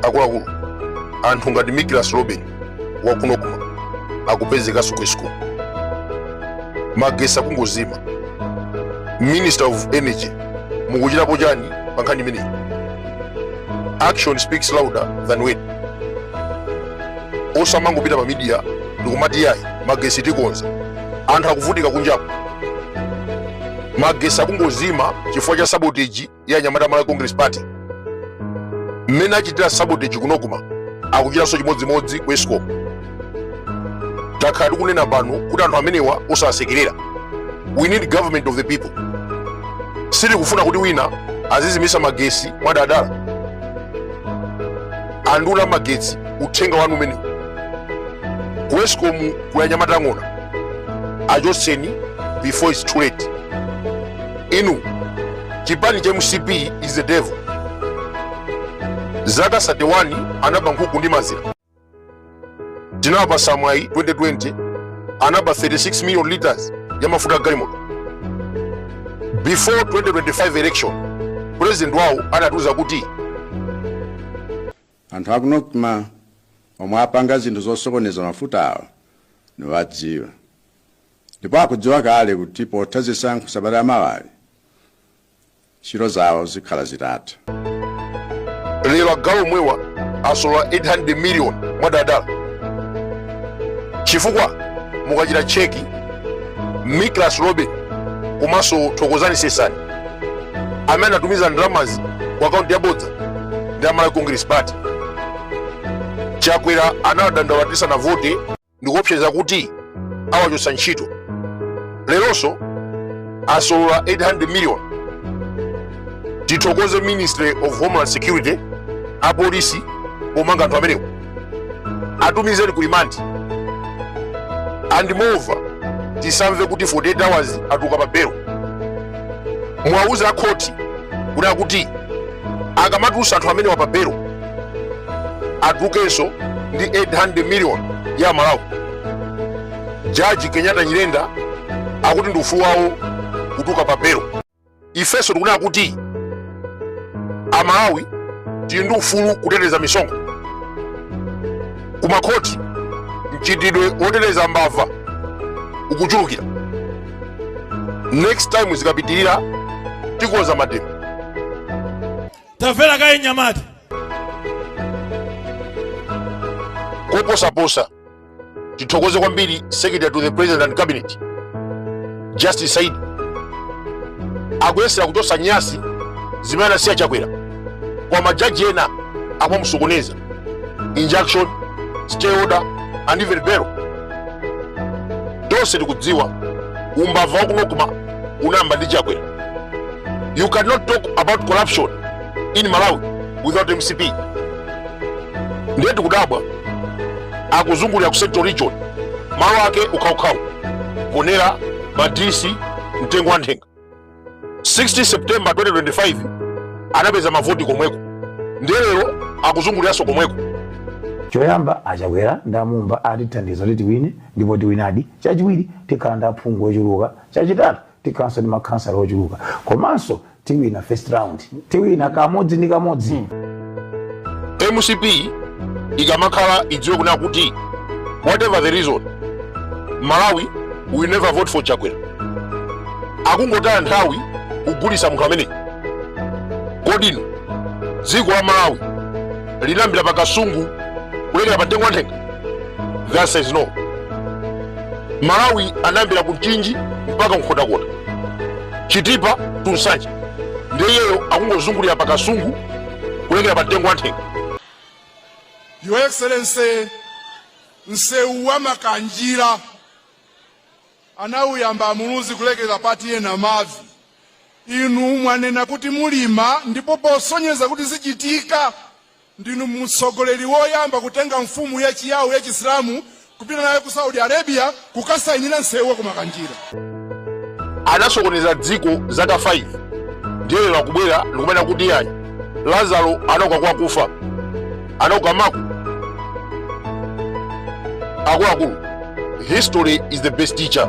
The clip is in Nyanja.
akuluakulu anthu ngati Miklas Robin wa ku Nocma akupezekanso ku Escom magesi akungozima minister of energy mukuchitapo chani pa nkhani imeneyi action speaks louder than word osamangopita pa media ndikumati yayi magesi tikonza anthu akuvutika kunjaku magesi akungozima chifukwa cha sabotage ya anyamata a Malawi Congress Party. Mmene achitira sabotage ku Nocma akuchitanso chimodzimodzi ku Escom. Takhala tikunena pano kuti anthu amenewa osawasekerera. We need government of the people. Sitikufuna kuti wina azizimisa magesi mwadadala. A nduna a magetsi uthenga wanu umenewu. ku escom kuli anyamata ang'ona achotseni before its too late inu chipani cha mcp is the devil zaka 31 anaba nkhuku ndi mazira tinawapasa mwayi 2020 anaba 36 million liters ya mafuta a galimoto before 2025 election president wawo anatiuza kuti Anthu aku Nocma omwe apanga zinthu zosokoneza mafutawa nawadziwa ndipo akudziwa kale kuti potha zisankho sabata lamawali ntchito zawo zikhala zitatha. lero agalu omwewa asolola 800 million mwadadala chifukwa mukachita cheki miklas robin komanso thokozani sesani amene anatumiza ndalamazi ku akaunti yabodza ndi a malawi congress party chakwera anawadandaula tisanavote ndikuopseza kuti awachotsa ntchito leronso asolola 800 million tithokoze ministry of homeland security apolisi pomanga anthu amenewo atumizeni ku rimandi and moreover tisamve kuti 48 hours atuluka pa belo muwauze a khoti kuti akuti akamatulutsa anthu amenewa pa belo atulukenso ndi 800 million ya amalawi jaji kenyatta nyirenda akuti ndi ufulu wawo kutuluka pa belo ifenso tikunena kuti amalawi tili ndi ufulu kuteteza misonkho kumakhoti mchitidwe woteteza mbava ukuchulukira next time zikapitirira tikonza mademo tamverani kaye mnyamata koposaposa tithokoze kwambiri secretary to the president and cabinet justice Saidi akuyesera kuchotsa nyasi zimene anasiya chakwera kwa majaji ena akumasokoneza injunction stay order and even bail tonse tikudziwa umbava wakuno kuma unayamba ndi chakwera you cannot talk about corruption in malawi without mcp ndiye tikudabwa akuzungulira ku central region malo ake ukhawukhawu Mponela Madisi mtengo wa nthenga 16 september 2025 anapeza mavoti komweko ndiye lero akuzunguliranso komweko choyamba achakwera ndi a Mumba atithandiza kuti tiwine ndipo tiwinadi chachiwiri tikhala ndi aphungu ochuluka chachitatu tikhalanso ndi makhansala ochuluka komanso tiwina first round tiwina kamodzi ndi kamodzi mcp ikamakhala idziwe kunena kuti whatever the reason malawi will never vote for chakwera akungotaya nthawi kugulitsa munthu ameneyi kodi dziko la malawi linayambira pa kasungu kulekera pa mtengo wa nthenga the answer is no malawi anayambira ku mchinji mpaka ku Nkhotakota chitipa to Nsanje ndiye iyeyo akungozungulira pa kasungu kulekera pa mtengo wa nthenga Your Excellency, msewu wa Makanjira anauyamba a Muluzi kulekeza pa TNM mavi inu mwanena kuti mulima ndipo posonyeza kuti zichitika Ndinu mtsogoleri woyamba kutenga mfumu ya Chiyao ya Chisilamu kupita nayo ku Saudi Arabia kukasainira nsewu wa ku Makanjira. anasokoneza dziko zaka 5 ndiye lero akubwera ndikumanena kuti iyayi lazaro anauka kwa akufa anauka maku akuluakulu history is the best teacher